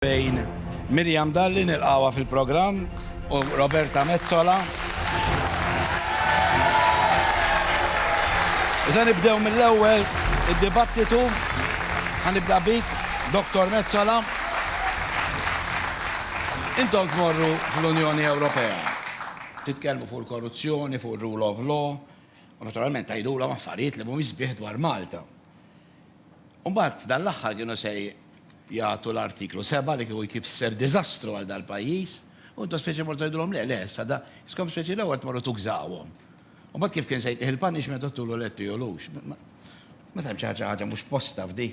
bejn Miriam Dalli, nilqgħuha fil-programm, u Roberta Metsola. U se nibdew mill-ewwel id-dibattitu. Ħanibda bik, Dottor Metsola. Intom tmorru fl-Unjoni Ewropea. Titkellmu fuq il-korruzzjoni, fuq ir-rule of law, u naturalment tgħidulhom affarijiet li mhumiex sbieħ dwar Malta. U mbagħad dan l-aħħar kienu se jagħtu l-Artiklu 7 li kieku jkif ser diżastru għal dal-pajjiż u intom speċi mortu tgħidulhom le, le, issa da, iskom speċi l-ewwel tmorru tugżawhom. U mbagħad kif kien se jtih il-punishment u tulu le tijulux. Ma tantx ħaġa ħaġa mhux f'postha f'di.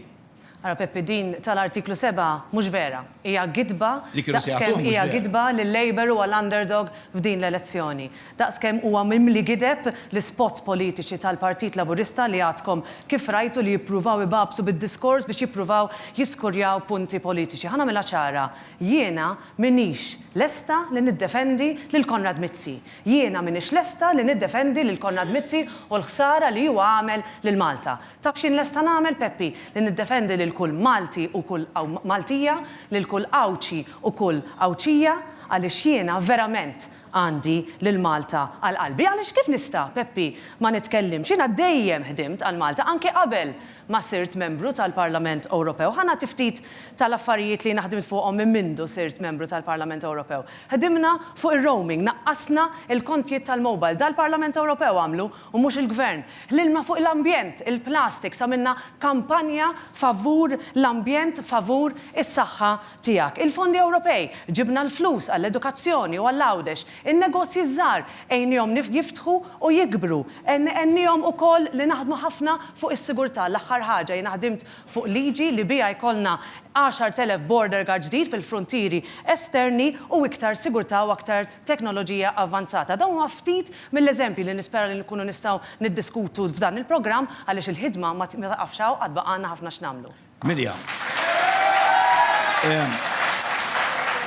Ara Peppi din tal-Artiklu 7 mhux vera. Hija gidba daqs kemm hija gidba lil-Labour u għall-underdog f'din l-elezzjoni. Daqs kemm huwa mimli gideb, l-ispots politiċi tal-Partit Laburista li għadkom kif rajtu li jippruvaw ibagħbsu bid-diskors biex jippruvaw jiskurjaw punti politiċi. Ħa nagħmilha ċara, jiena m'iniex lesta li niddefendi lil Konrad Mizzi. Jiena m'iniex lesta li niddefendi lil Konrad Mizzi u l-ħsara li huwa għamel lil Malta. Taf x'jien lesta nagħmel, Peppi? Li niddefendi lil kull Malti u kull Maltija, lil kull Għawdxi u kull Għawdxija, għaliex jiena verament Għandi lil Malta għal qalbi għaliex kif nista', Peppi, ma nitkellimx? Jiena dejjem ħdimt għal Malta anke qabel ma sirt Membru tal-Parlament Ewropew. Ħa nagħti ftit tal-affarijiet li jiena ħdimt fuqhom minn mindu sirt Membru tal-Parlament Ewropew. Ħdimna fuq ir-roaming, naqqasna l-kontjiet tal-mobile. Dan l-Parlament Ewropew għamlu u mhux il-Gvern. Ħlilna fuq l-ambjent, il-plastiks, għamilna kampanja favur l-ambjent, favur is-saħħa tiegħek, il-fondi Ewropej, ġibna l-flus għall-edukazzjoni u għall-Għawdex, in-negozji ż-żgħar għejnihom jiftħu u jikbru, għenniehom ukoll li naħdmu ħafna fuq is-sigurtà, l-aħħar ħaġa jiena ħdimt fuq liġi li biha jkollna 10,000 border guard ġdid fil-fruntieri esterni u iktar sigurtà u aktar teknoloġija avvanzata. Dawn huma ftit mill-eżempji li nispera li nkunu nistgħu niddiskutu f'dan il-programm għaliex il-ħidma ma tieqafx hawn għad baqgħalna ħafna x'nagħmlu. Miriam.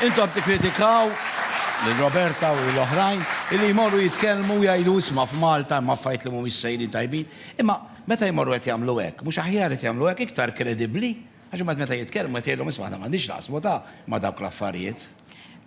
Intom tikkritikaw lil Roberta u lil oħrajn illi jmorru jitkellmu u jgħidu isma' f'Malta hemm affarijiet li mhumiex sejrin tajbin, imma meta jmorru qed jagħmlu hekk, mhux aħjar qed jagħmlu hekk iktar kredibbli? Għax imbagħad meta jitkellmu qed jgħidilhom isma' aħna m'għandniex naqsmu ta' ma' dawk l-affarijiet.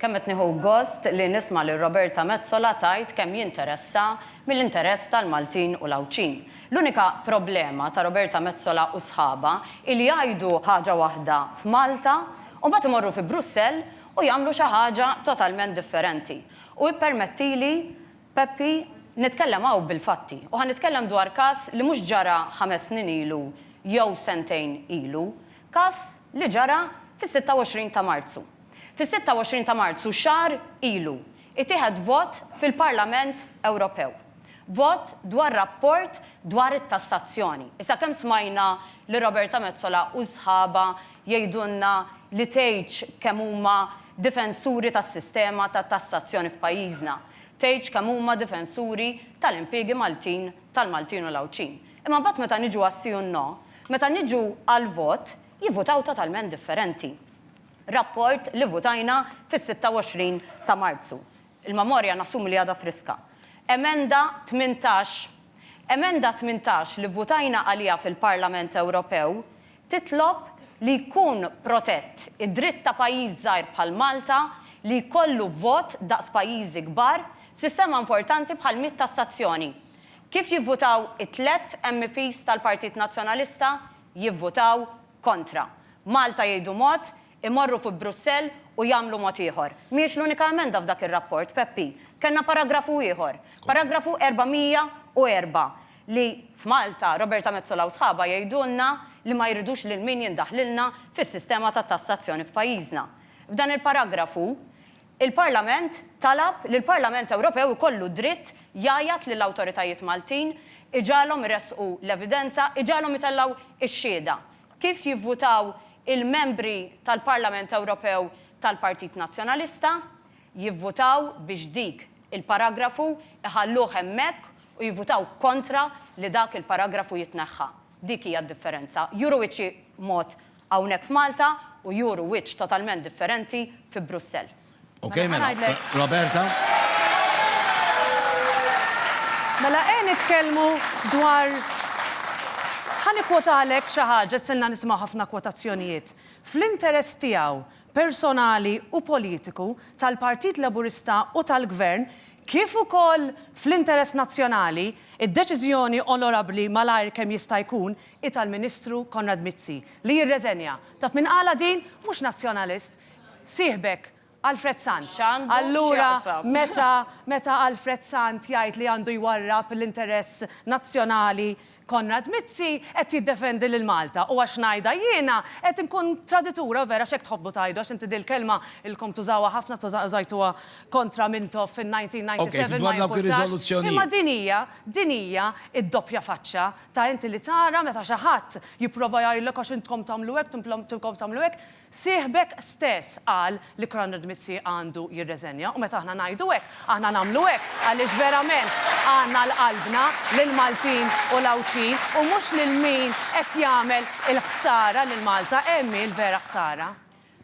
Kemm qed nieħu gost li nisma' lil Roberta Metsola tgħid kemm jinteressha mill-interess tal-Maltin u l-Għawdxin. L-unika problema ta' Roberta Metsola u sħabha hi li jgħidu ħaġa waħda f'Malta u mbagħad imorru fi Brussell u jagħmlu xi ħaġa totalment differenti. U ippermettili, Peppi, nitkellem hawn bil-fatti u ħa nitkellem dwar każ li mhux ġara ħames snin ilu jew sentejn ilu, każ li ġara fis-26 ta' Marzu. Fis-26 ta' Marzu, xahar ilu, itieħed vot fil-Parlament Ewropew. Vot dwar rapport dwar it-tassazzjoni. Issa kemm smajna lil Roberta Metsola u sħabha jgħidulna li tgħidx kemm huma difensuri tas-sistema ta' tassazzjoni f'pajjiżna. Tgħidx kemm huma difensuri tal-impjiegi Maltin, tal-Maltin u l-Għawdxin. Imma mbagħad meta niġu għas-si u n-no, meta niġu għall-vot, jivvutaw totalment differenti. rapport li votajna fis-26 ta' Marzu. Il-memorja nassumi li għadha friska. Emenda 18 Emenda 18 li vvotajna għaliha fil-Parlament Ewropew titlob li jkun protett id-dritt ta' pajjiż żgħir bħal Malta li jkollu vot daqs pajjiżi kbar f'sistema importanti bħall-miet tassazzjoni. Kif jivvotaw it-tliet MEPs tal-Partit Nazzjonalista? Jivvotaw kontra. Malta jgħidu mod, imorru fi Brussell u jagħmlu mod ieħor. Mhijiex l-unika emenda f'dak ir-rapport, Peppi. Kellna paragrafu ieħor, paragrafu 404, li f'Malta Roberta Metsola u sħabha jgħidulna li ma jridux lil min jindaħlilna fis-sistema ta' tassazzjoni f'pajjiżna. F'dan il-paragrafu, il-Parlament talab li l-Parlament Ewropew ikollu d-dritt jgħajjat lill-awtoritajiet Maltin, iġagħalhom iressqu l-evidenza, iġagħalhom itellgħu x-xhieda. Kif jivvutaw il-Membri tal-Parlament Ewropew tal-Partit Nazzjonalista? Jivvutaw biex dik il-paragrafu jħalluh hemmhekk u jivvutaw kontra li dak il-paragrafu jitneħħa. Dik hija d-differenza. Juru wiċċ xi mod hawnhekk f'Malta u juru wiċċ totalment differenti fi Brussell. Okay, mela, Roberta. Mela, għen itkellmu dwar Ħan ikwotalek xi ħaġa silna nisimgħu ħafna kwotazzjonijiet. Fl-interess tiegħu personali u politiku tal-Partit Laburista u tal-Gvern, kif ukoll fl-interess nazzjonali, id-deċiżjoni onorabbli malajr kemm jista' jkun hi tal-Ministru Konrad Mizzi li jirreżenja. Taf min qalha din? Mhux Nazzjonalist, Sieħbek, Alfred Sant. Allura meta meta Alfred Sant jgħid li għandu jwarrab l-interess nazzjonali Konrad Mizzi qed jiddefendi lil Malta u għax ngħidha jiena qed inkun traditura vera għax hekk tħobbu tgħidu għax inti dil-kelma ilkom tużawha ħafna tuża użajtuha kontra Mintoff fin-1997 ma jimpurtax imma din hija din hija d-doppja faċċa ta' inti li tara meta xi ħadd jipprova jgħidlek għax intkom tagħmlu hekk timplom timkom tagħmlu hekk Sieħbek stess qal li Konrad Mizzi għandu jirreżenja u meta aħna ngħidu hekk, aħna nagħmlu hekk għaliex verament għandna għal qalbna lill-Maltin u l-Għawdxin u mhux lil min qed jagħmel il-ħsara lil Malta, hemm hi l-vera ħsara.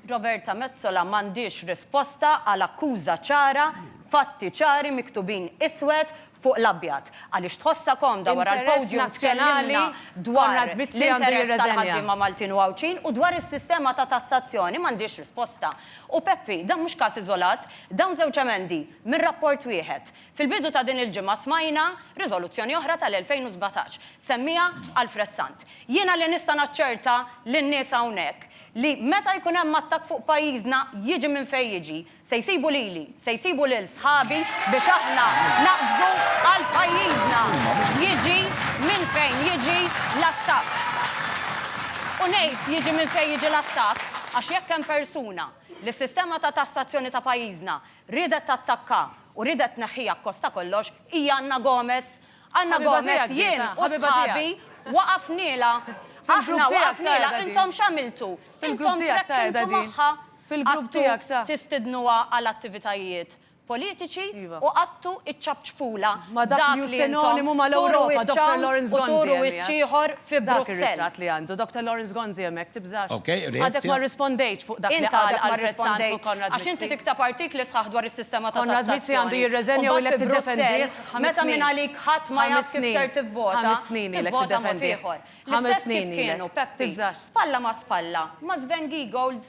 Roberta Metsola m'għandhiex risposta għal akkuża ċara, fatti ċari miktubin iswed fuq l-abjad, għaliex tħossha komda wara l-podium tkellimna dwar l-interess tal-ħaddiema Maltin u Għawdxin u dwar is-sistema ta' tassazzjoni, m'għandhiex risposta. U Peppi, dan mhux każ iżolat, dawn żewġ emendi minn rapport wieħed. Fil-bidu ta' din il-ġimgħa smajna riżoluzzjoni oħra tal-2017, semmiha Alfred Sant. Jiena li nista' naċċerta lin-nies hawnhekk li meta jkun hemm attakk fuq pajjiżna jiġi minn fejn jiġi, Se jsibu lili, se jsibu lil sħabi biex aħna naqbżu għal pajjiżna, jiġi minn fejn jiġi l-attakk. U ngħid jiġi minn fejn jiġi l-attakk għax jekk hemm persuna li s-sistema ta' tassazzjoni ta' pajjiżna riedet tattakka u riedet tneħħiha akkost ta' kollox hija Anna Gomez. Anna Gomez jien u sħabi waqafnielha. Aħna waqafnielha. Intom x'għamiltu? Intom trekkintu magħha. fil-grupp tiegħek ta'. Għattu tistidnuha għal attivitajiet politiċi u għattu iċċapċpulha dak li intom turu wiċċ hawn u turu wiċċ ieħor fi Brussell. Ħames snin ilek. L-istess kif kienu, Peppi, spalla ma' spalla ma' Sven Giegold,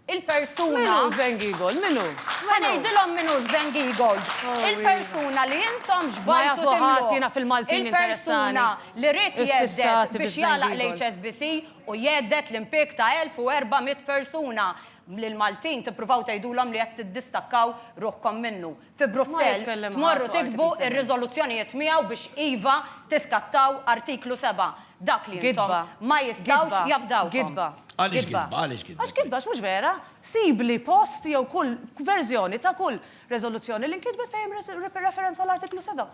il-persuna. Min hu Sven Giegold? Min hu? Ħa ngħidilhom min hu Sven Giegold. Il-persuna li intom xbajtu timluh. Ma jafuh ħadd, jiena fil-Maltin interessani. Il-persuna li ried jhedded biex jagħlaq l-HSBC u jhedded l-impieg ta' 1,400 persuna. Lill-Maltin tippruvaw tgħidulhom li qed tiddistakkaw ruħkom minnu. fi Brussell tmorru tiktbu r-riżoluzzjonijiet miegħu biex iva tiskattaw Artiklu 7, dak li intom ma jistgħux jafdawkom. Għaliex gidba? Għaliex gidba? Għax gidba, għax mhux vera. Sibli post jew kull verżjoni ta' kull riżoluzzjoni li nkitbet fejn hemm referenza għall-Artiklu 7.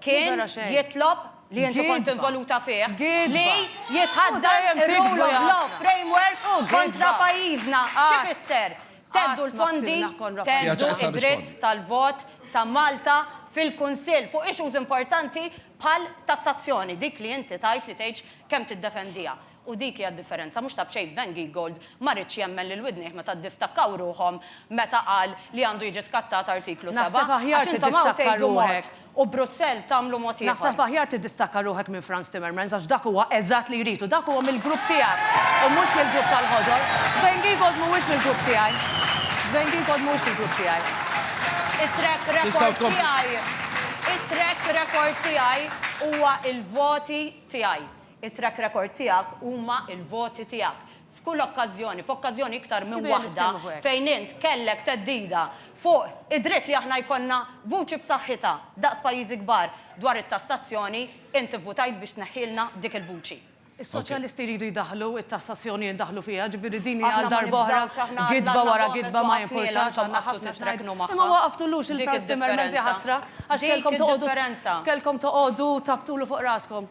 kien jitlob, li inti kont involuta fih, li jitħaddan ir-rule of law framework kontra pajjiżna. Xi fisser? Theddhu l-fondi, theddhu d-dritt tal-vot ta' Malta fil-Kunsill fuq issues importanti bħal tassazzjoni, dik li inti tgħid li tgħidx kemm tiddefendiha. U dik hija d-differenza, mhux ta' b'xejn Sven Giegold ma riedx jemmen lil widnejh meta ddistakkaw ruħhom meta qal li għandu jiġi skattat Artiklu 7. Naħseb aħjar tiddistakka ruħek. U Brussell tagħmlu mod ieħor. Naħseb aħjar tiddistakka ruħek minn Frans Timmermans għax dak huwa eżatt li jrid u dak huwa mill-grupp tiegħek u mhux mill-grupp tal-Ħodor. Sven Giegold mhuwiex mill-grupp tiegħi. Sven Giegold mhuwiex mill-grupp tiegħi. It-track record tiegħi, it-track record tiegħi huwa l-voti tiegħi. It-track record tiegħek huma l-voti tiegħek. F'kull okkażjoni, f'okkażjoni iktar minn waħda fejn int kellek theddida fuq id-dritt li aħna jkollna vuċi b'saħħitha daqs pajjiżi kbar dwar it-tassazzjoni, int ivvutajt biex tneħħielna dik il-vuċi. Is-Soċjalisti jridu jdaħħlu t-tassazzjoni jindaħlu fiha, ġifieri din hi għal darba oħra gidba wara gidba ma jimpurtax għandna ħafna x'ngħidu. Imma ma waqaftulux il-Frans Timmermans, jaħasra, għax kellkom toqgħodu kellkom toqgħodu tapptulu fuq raskom.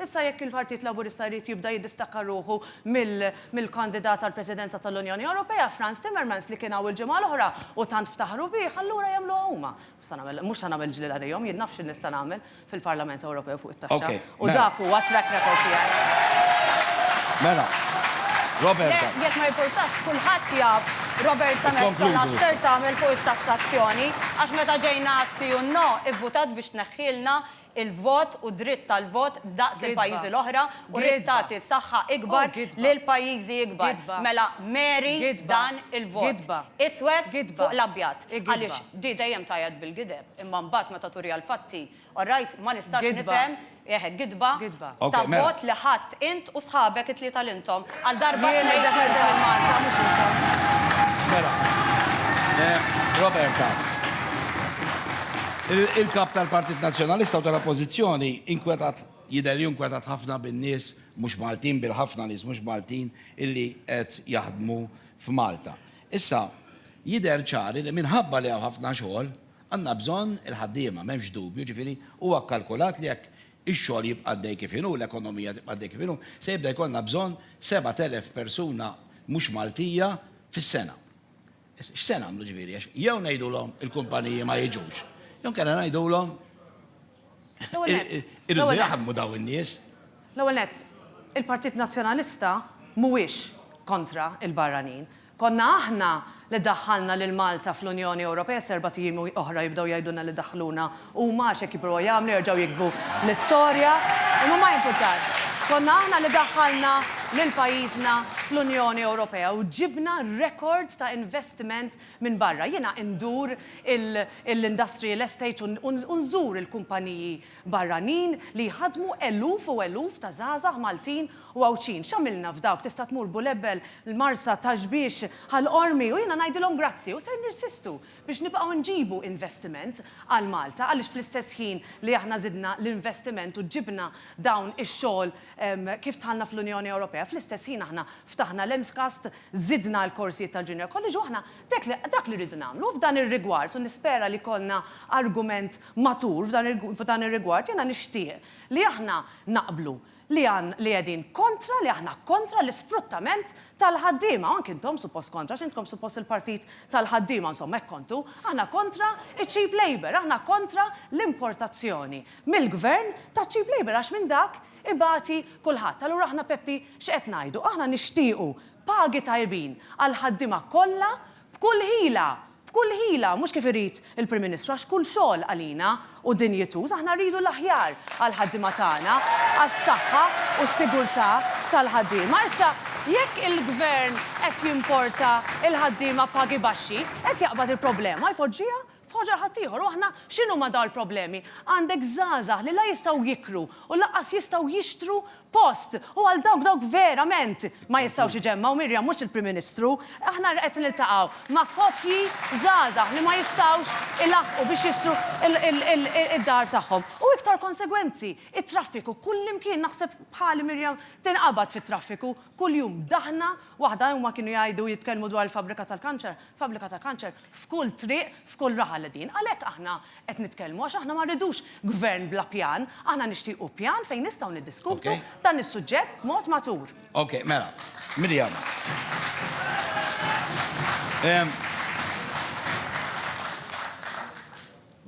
Issa jekk il-Partit Laburista jrid jibda jiddistakka ruħu mill-kandidat għall-Presidenza tal-Unjoni Ewropea, Frans Timmermans, li kien hawn il-ġimgħa l-oħra u tant ftaħru bih, allura jagħmluha huma. Mhux se nagħmel ġlied għalihom, jien naf x'nista' nagħmel fil-Parlament Ewropew fuq it-taxxa u mela. dak huwa t-track record tiegħi. Mela, Roberta. Le, jekk ma jimpurtax, kulħadd jaf Roberta Metsola x'ser tagħmel fuq it-tassazzjoni, għax meta ġejna għas-si u n-no, ivvutat biex tneħħielna il-vot u dritt tal-vot daqs il-pajjiżi l-oħra u rrid tagħti saħħa ikbar lil pajjiżi ikbar. Mela Mary dan il-vot. Iswed fuq l-abjad. Għaliex di dejjem tgħajjat bil-gideb imma mbagħad meta turiha l-fatti, orajt, ma nistax nifhem, eħe gidba ta' vot li ħa Int u sħabek it-tlieta l-intom. Għal darba tnejn Jiena Defender il Malta mhux intom. Mela. Roberta. Il-Kap tal-Partit Nazzjonalista u tal-Oppożizzjoni inkwetat jidher li inkwetat ħafna bin-nies mhux Maltin, bil-ħafna nies mhux Maltin illi qed jaħdmu f'Malta. Issa, jidher ċar li minħabba li hawn ħafna xogħol, għandna bżonn il-ħaddiema, m'hemmx dubju, jiġifieri huwa kkalkulat li jekk ix-xogħol jibqa' għaddej kif inhu, l-ekonomija tibqa' għaddej kif inhu, se jibda jkollna bżonn 7,000 persuna mhux Maltija fis-sena. X'se nagħmlu ġifieri għax jew ngħidulhom il-kumpaniji ma jiġux, jew inkella ngħidulhom irridu jaħdmu dawn in-nies. L-ewwel nett, il-Partit Nazzjonalista mhuwiex kontra l-barranin. Konna aħna li daħħalna lil Malta fl-Unjoni Ewropea s'erbat ijiem oħra jibdew jgħidulna li daħħluna huma għax hekk jippruvaw jagħmlu jerġgħu jiktbu l-istorja imma ma jimpurtax. Konna aħna li daħħalna lil pajjiżna fl-Unjoni Ewropea u ġibna rekord ta' investiment minn barra. Jiena indur il-industrial estate u nżur il-kumpaniji barranin li jħaddmu eluf u eluf ta' żgħażagħ Maltin u Għawdxin. X'għamilna f'dawk? Tista' tmur Bulebel, l-Marsa, Taxbiex, Ħal Qormi u jiena ngħidilhom grazzi u ser nirsistu biex nibqgħu nġibu investiment għal Malta għaliex fl-istess ħin li aħna żidna l-investiment u ġibna dawn ix-xogħol kif dħalna fl-Unjoni Ewropea fl-istess ħin aħna ftaħna l-MSCAST, żidna l-korsijiet tal-Junior College u aħna Dak li rridu nagħmlu f'dan ir-rigward, u nispera li jkollna argument matur f'dan ir-rigward, jiena nixtieq li aħna naqblu li qegħdin kontra, li aħna kontra l-isfruttament tal-ħaddiema, u anki intom suppost kontra, għax intkom suppost il-partit tal-ħaddiema, insomma hekk kontu, aħna kontra ċ-cheap labour, aħna kontra l-importazzjoni mill-Gvern ta' cheap labour għax minn dak ibati kulħadd. Allura aħna Peppi x'qed ngħidu? Aħna nixtiequ Pagi tajbin għall-ħaddiema kollha b'kull ħila, b'kull ħila, mhux kif irid il-Prim Ministru għax kull xogħol għalina hu dinjituż, aħna rridu l-aħjar għall-ħaddiema tagħna, għas-saħħa u s-sigurtà tal-ħaddiema. Issa, jekk il-Gvern qed jimporta l-ħaddiema b'pagi baxxi, qed jaqbad il-problema jpoġġiha F'ħoġa ħaddieħor, u aħna x'inhuma dawn il-problemi? Għandek żgħażagħ li la jistgħu jiklu u lanqas jistgħu jixtru post. U għal dawk dawk verament ma jistgħux iġemmgħu, Miriam, mhux il-Prim Ministru, aħna qed niltaqgħu ma' koppji żgħażagħ li ma jistgħux ilaħħqu biex jixtru d-dar tagħhom. U iktar konsegwenzi, it-traffiku. Kullimkien, naħseb bħali Miriam, tinqabad fit-traffiku kuljum. Daħna waħda, huma kienu jgħidu, jitkellmu dwar il-fabbrika tal-kanċer, fabbrika tal-kanċer, f'kull triq, f'kull raħal qegħdin. Għalhekk aħna qed nitkellmu għax aħna ma rridux Gvern bla pjan, aħna nixtiequ pjan fejn nistgħu niddiskutu dan is-suġġett b'mod matur. Ok, mela, Miriam.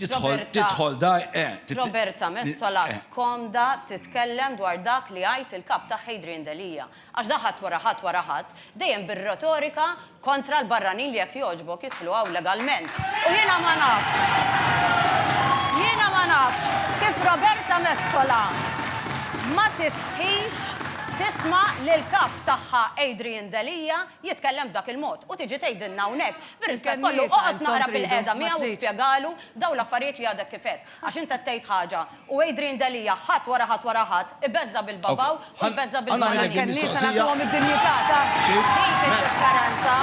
Tidħol, tidħol da, eh. Roberta Metsola eh. skomda titkellem dwar dak li għajt il-kap ta' Hadrian Delia. Għax da ħadd wara ħadd wara ħadd, dejjem bir-retorika kontra l-barranin li jekk jogħġbok jidħlu hawn legalment. U jiena ma nafx. Jiena ma nafx kif Roberta Metsola ma tistħix tisma li l-kap tagħha Adrian Delia jitkellem b'dak il-mod u tiġi tgħidilna hawnhekk Bir-rispett kollu, oqgħod naqra bil-qiegħda miegħu u spjegalu dawn l-affarijiet li għadek kif għedt. Għax int qed tgħid ħaġa u Adrian Delia ħadd wara ħadd wara ħadd ibeżża' bil-babaw u jbeżża' bil-barranin. Dik id-differenza.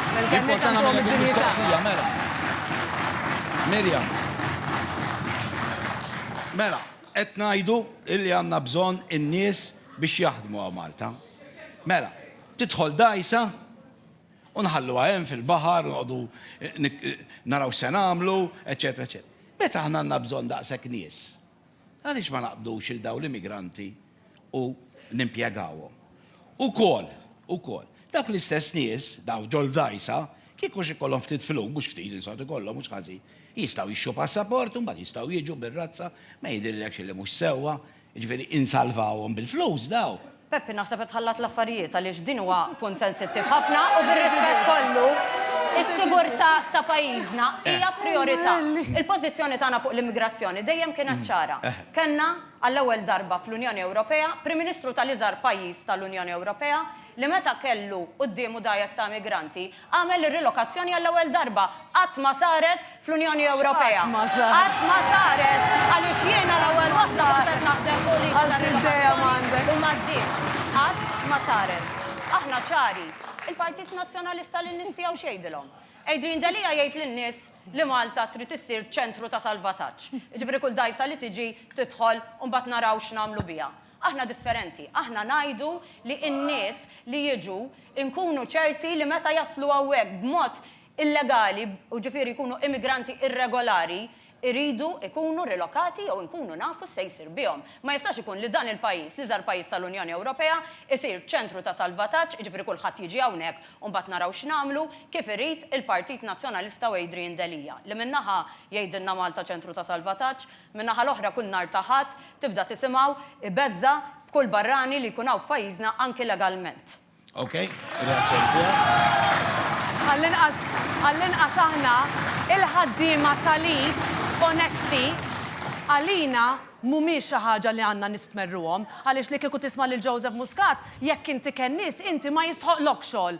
Miriam, mela, qed ngħidu li għandna bżonn in-nies biex jaħdmu hawn Malta. Mela, tidħol dgħajsa? U nħalluha hemm fil-baħar, noqogħdu naraw x'se nagħmlu, eċċetera, eċċetera. Meta aħna għandna bżonn daqshekk nies, għaliex ma naqbdux il dawn l-immigranti u nimpjegawhom? Ukoll, ukoll, dawk l-istess nies, daw ġol dajsa, kieku xi kollhom ftit flus, mhux ftit li sod ikollhom mhux ħażin, jistgħu jixxu passaport u mbagħad jistgħu jiġu bir-razza, ma jidhirlekx li mhux sewwa, Jiġifieri insalvawhom bil-flus daw. Peppi naħseb qed tħallat l-affarijiet għaliex din huwa punt sensittiv ħafna u bir-rispett kollu, is-sigurtà ta' pajjiżna hija prijorità. Il-pożizzjoni tagħna fuq l-immigrazzjoni dejjem kienet ċara. Kellna, għall-ewwel darba fl-Unjoni Ewropea, Prim Ministru tal-iżgħar pajjiż tal-Unjoni Ewropea li meta kellu quddiemu dgħajjes ta' immigranti, Għamel ir-rilokazzjoni għall-ewwel darba. Qatt ma saret fl-Unjoni Ewropea. X'qatt ma saret? Qatt ma saret għaliex jiena l-ewwel waħda kont qed naħdem fuq liġi ta' rilokazzjoni u ma żdiex. Qatt ma saret. Aħna ċari. Il-Partit Nazzjonalista lin-nies tiegħu x'jgħidilhom? Adrian Delia jgħid lin-nies li Malta trid issir ċentru ta' salvataġġ. Jiġifieri kull dgħajsa li tiġi tidħol u mbagħad naraw x'nagħmlu biha. Aħna differenti. Aħna ngħidu li n-nies li jiġu nkunu ċerti li meta jaslu hawnhekk b'mod illegali, u ġifieri jkunu immigranti irregolari, iridu jkunu rilokati jew inkunu nafu x'se jsir bihom. Ma jistax ikun li dan il-pajjiż, l-iżgħar pajjiż tal-Unjoni Ewropea, isir ċentru ta' salvataġġ, jiġifieri kulħadd jiġi hawnhekk u mbagħad naraw x'nagħmlu, kif irid il-Partit Nazzjonalista u Adrian Delia, li minn naħa jgħidilna Malta ċentru ta' salvataġġ, Min-naħa l-oħra kull nhar ta' Ħadd tibda tisimgħu ibeżża' b'kull barrani li jkun hawn f'pajjiżna anki legalment. Ok, irreazzjoni tiegħek. Għall-inqas, għall-inqas aħna, il-ħaddiema tal-id onesti, għalina mhumiex xi ħaġa li għandna nistmerruhom, għaliex li kieku tisma' lil Joseph Muscat, jekk inti kennies, inti ma jistħoqqlokx xogħol.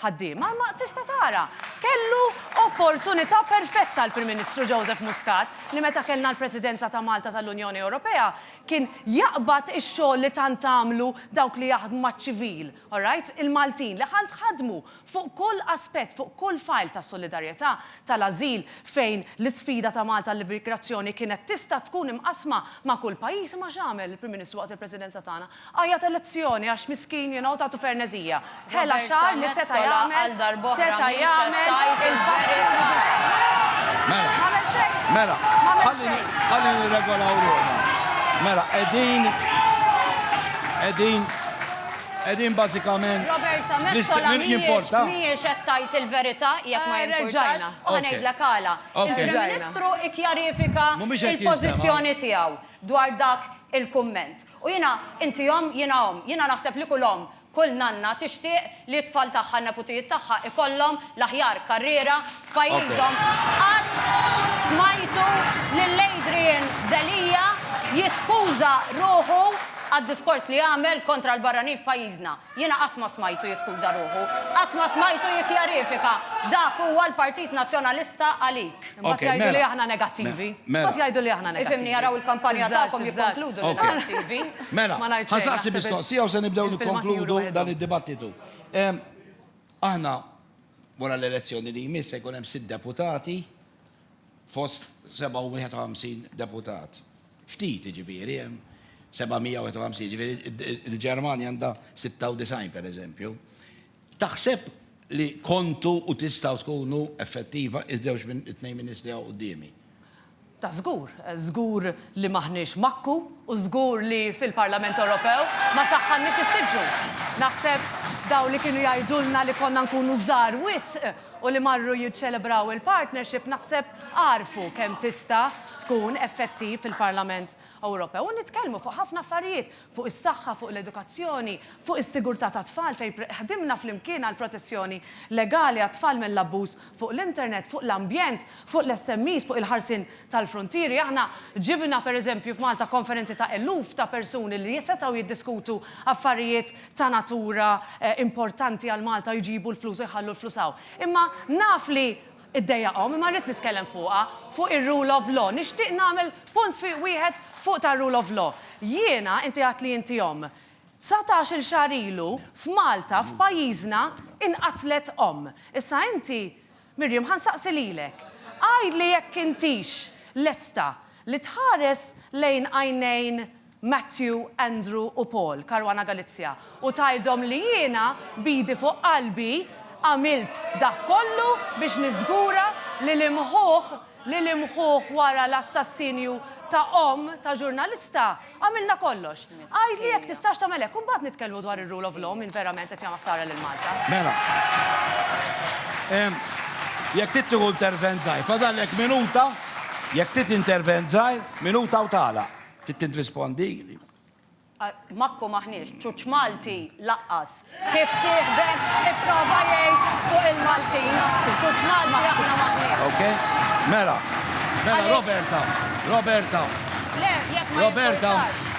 ħaddiema, imma tista' tara, kellu opportunità perfetta l-Prim Ministru Joseph Muscat li meta kellna l-Presidenza ta' Malta tal-Unjoni Ewropea kien jaqbad ix-xogħol li tant għamlu dawk li jaħdmu maċ-ċivil, all right, il-Maltin li tant ħadmu fuq kull aspett, fuq kull file tas-solidarjetà, tal-ażil fejn l-isfida ta' Malta għall-immigrazzjoni kienet tista' tkun imqassma ma' kull pajjiż, imma x'għamel il-Prim Ministru waqt il-Presidenza tagħna? Għajjat elezzjoni għax miskin you know tagħtu ferneżija. Ħela xagħar li seta' jagħmel seta' jagħmel il-passi li Mela. M'għamel xejn. Mela. M'għamel xejn. Ħalli nirregolaw ruħna. Mela qegħdin qegħdin qegħdin bażikament Roberta Metsola mhijiex mhijiex qed tgħid il-verità jekk ma jimpurtax u ħa ngħidlek għala. Il-Prim Ministru kkjarifika l-pożizzjoni tiegħu dwar dak il-kumment. U jiena, inti omm, jiena omm. Jiena naħseb li kull omm, kull nanna tixtieq li t-tfal tagħha, n-neputijiet tagħha ikollhom l-aħjar karriera f'pajjiżhom. Qatt smajtu lil Adrian Delia jiskuża ruħu għad-diskors li għamel kontra l-barranin f'pajjiżna. Jiena qatt ma smajtu jiskuża ruħu. Qatt ma smajtu jikkjarifika. Dak huwa l-Partit Nazzjonalista għalik. Imbagħad jgħidu li aħna negattivi. Imbagħad jgħidu li aħna negattivi. Ifhimni, jaraw il-kampanja tagħkom jikkonkludu li negattivi. Mela, ħa nsaqsi mistoqsija u se nibdew nikkonkludu dan id-dibattitu. Aħna wara l-elezzjoni li jmiss se jkun hemm sitt deputati fost 57 deputat. Ftit, jiġifieri, hemm 751, jiġifieri il-Ġermanja għandha 96 pereżempju. Taħseb li kontu u tistgħu tkunu effettiva iż-żewġ minn it-tnejn ministri hawn quddiemi? Ta' żgur. Żgur li m'aħniex makku u żgur li fil-Parlament Ewropew ma saħħanniex is-siġġu. Naħseb dawn li kienu jgħidulna li konna nkunu żgħar wisq u li marru jiċċelebraw il-partnership naħseb għarfu kemm tista' tkun effettiv fil-Parlament Ewropew u nitkellmu fuq ħafna affarijiet, fuq is-saħħa, fuq l-edukazzjoni, fuq is-sigurtà tat-tfal fejn ħdimna flimkien għall-protezzjoni legali għat-tfal mill-abbuż fuq l-internet, fuq l-ambjent, fuq l-SMEs, fuq il-ħarsien tal-fruntieri. Aħna ġibna, pereżempju, f'Malta konferenzi ta' eluf ta' persuni li setgħu jiddiskutu affarijiet ta' natura importanti għal Malta jġibu l-flus u jħallu l-flus hawn. Imma naf li ddejjaqhom imma rrid nitkellem fuqha, fuq ir-rule of law. Nixtieq nagħmel punt fi wieħed fuq tar-rule of law. Jiena, inti għedt li inti omm. Dsatax-il xahar ilu f'Malta, f'pajjiżna, inqatlet omm. Issa inti Miriam, Ħa nsaqsi lilek. Għidli jekk intix lesta li tħares lejn għajnejn Matthew, Andrew u Paul, Caruana Galizia, u tgħidhom li jiena b'idi fuq qalbi għamilt dak kollu biex niżgura li l-imħuħ, li limħuh wara l-assassinju ta' omm ta' ġurnalista, għamilna kollox. Għidli jekk tistax tagħmel hekk u mbagħad nitkellmu dwar ir-rule of law min verament qed jagħmel ħsara lil Malta. Mela. Jekk trid tieħu intervent żgħir, fadallek minuta, jekk trid intervent żgħir, minuta u tagħlaq. Trid tirrispondi? Magħkom aħniex, ċuċ Malti laqqas! kif sieħbek ipprova jgħid fuq il-Maltin. Ċuċ Malti aħna m'aħniex. Ok. Mela. Mela Roberta. Roberta. Le, jekk ma jimpurtax. Roberta,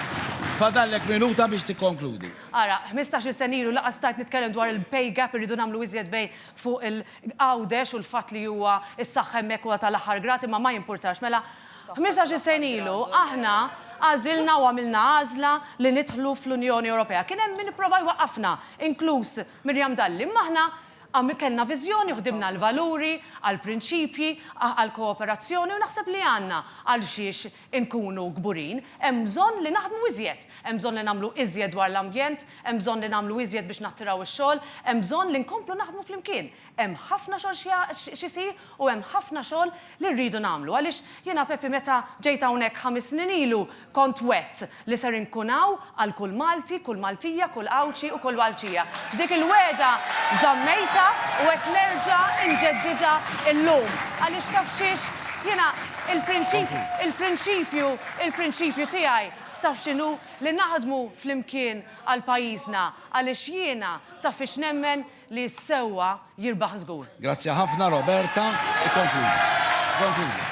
fadallek minuta biex tikkonkludi. Ara, ħmistax-il sena ilu laqqas stajt nitkellem dwar il-pay gap, irridu nagħmlu iżjed bejn fuq il-Għawdex u l-fatt li huwa s-saħħa hemmhekk huwa tal-aħħar grad, imma ma jimpurtax. Mela, Ħmisax-il sena ilu, aħna għażilna u għamilna għażla li nidħlu fl-Unjoni Ewropea. Kien hemm min ipprova jwaqqafna, inkluż Miriam Dalli, imma aħna kellna viżjoni u ħdimna għal valuri, għal prinċipji, għal kooperazzjoni u naħseb li għandna għal xiex inkunu kburin. Hemm bżonn li naħdmu iżjed, hemm bżonn li nagħmlu iżjed dwar l-ambjent, hemm bżonn li nagħmlu iżjed biex nattiraw ix-xogħol, hemm bżonn li nkomplu naħdmu flimkien. Hemm ħafna xogħol xi jsir u hemm ħafna xogħol li rridu nagħmlu għaliex jiena Pepi meta ġejt hawnhekk ħames snin ilu kont wgħedt li ser inkun hawn għal kull Malti, kull Maltija, kull Għawdxi u kull Għawdxija. Dik il-wegħda żammejtha u qed nerġa' inġeddidha llum għaliex taf xiex? Jiena il-prinċipju il-prinċipju tiegħi taf x'inhu? Li naħdmu flimkien għal pajjiżna għaliex jiena taf fiex nemmen? li s-sewwa jirbaħ żgur. Grazzi ħafna Roberta, ikkonkludi. Ikkonkludi.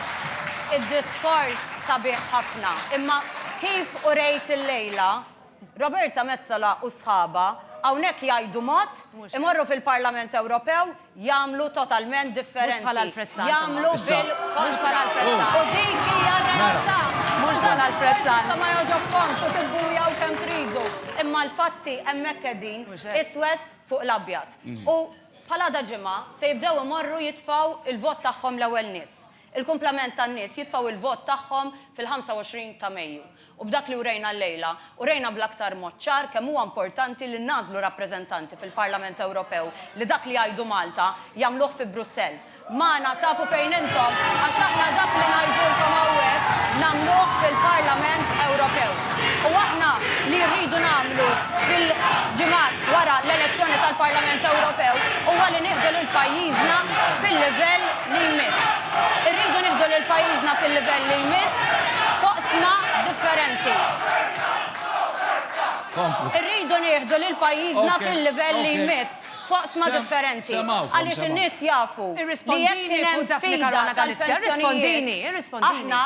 Id-diskors sabiħ ħafna, imma kif urejt illejla, Roberta Metsola u sħabha hawnhekk jgħidu mod, imorru fil-Parlament Ewropew jagħmlu totalment differenti. Mhux bħal Alfred Sant imma. Jagħmlu bil-kontra. Mhux bħal Alfred Sant. U dik hija r-realtà. Mhux bħal Alfred Sant. Intom ma jogħġobkomx u tibbujaw kemm tridu, imma l-fatti hemmhekk qegħdin, iswed fuq l-abjad. U bħal għada ġimgħa se jibdew imorru jitfgħu l-vot tagħhom l-ewwel nies. Il-kumplament tan-nies jitfgħu l-vot tagħhom fil-25 ta' Mejju. U b'dak li urejna llejla, urejna bl-aktar mod ċar kemm huwa importanti li ngħażlu rappreżentanti fil-Parlament Ewropew li dak li jgħidu Malta jagħmluh fi Brussell. Magħna tafu fejn intom għax aħna dak li ngħidulkom hawnhekk nagħmluh fil-Parlament Ewropew. U aħna li rridu nagħmlu fil-ġimgħat wara l-elezzjoni tal-Parlament Ewropew huwa li nieħdu lil pajjiżna fil-livell li jmiss. Irridu nieħdu lil pajjiżna fil-livell li jmiss f'oqsma differenti. Irridu nieħdu lil pajjiżna fil-livell li jmiss. f'oqsma differenti għaliex in-nies jafu li jekk kien hemm sfida tal-pensjonijiet, aħna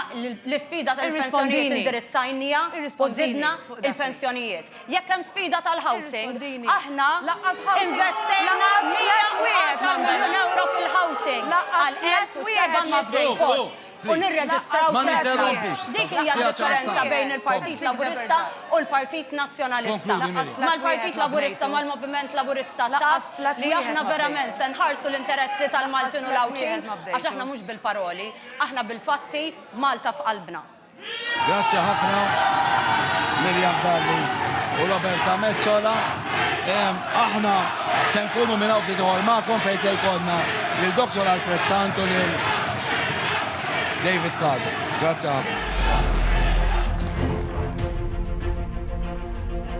l-isfida tal-pensjonijiet indirizzajnija u żidna l-pensjonijiet. Jekk hemm sfida tal-housing, aħna investejna 110 miljun ewro fil-housing għal 1,700 post. u nirreġistraw ċerti nies. Dik hija d-differenza bejn il-Partit Laburista u l-Partit Nazzjonalista. Mal-Partit Laburista, mal-Moviment Laburista taf li aħna verament se nħarsu l-interessi tal-Maltin u l-Għawdxin għax aħna mhux bil-paroli, aħna bil-fatti, b'Malta f'qalbna. Grazzi ħafna Miriam Dalli u Roberta Metsola. Aħna se nkunu minn hawn ftit ieħor magħkom fejn se jkollna lil Dr. Alfred Sant u lil David Kaza. Grazzi ħafna.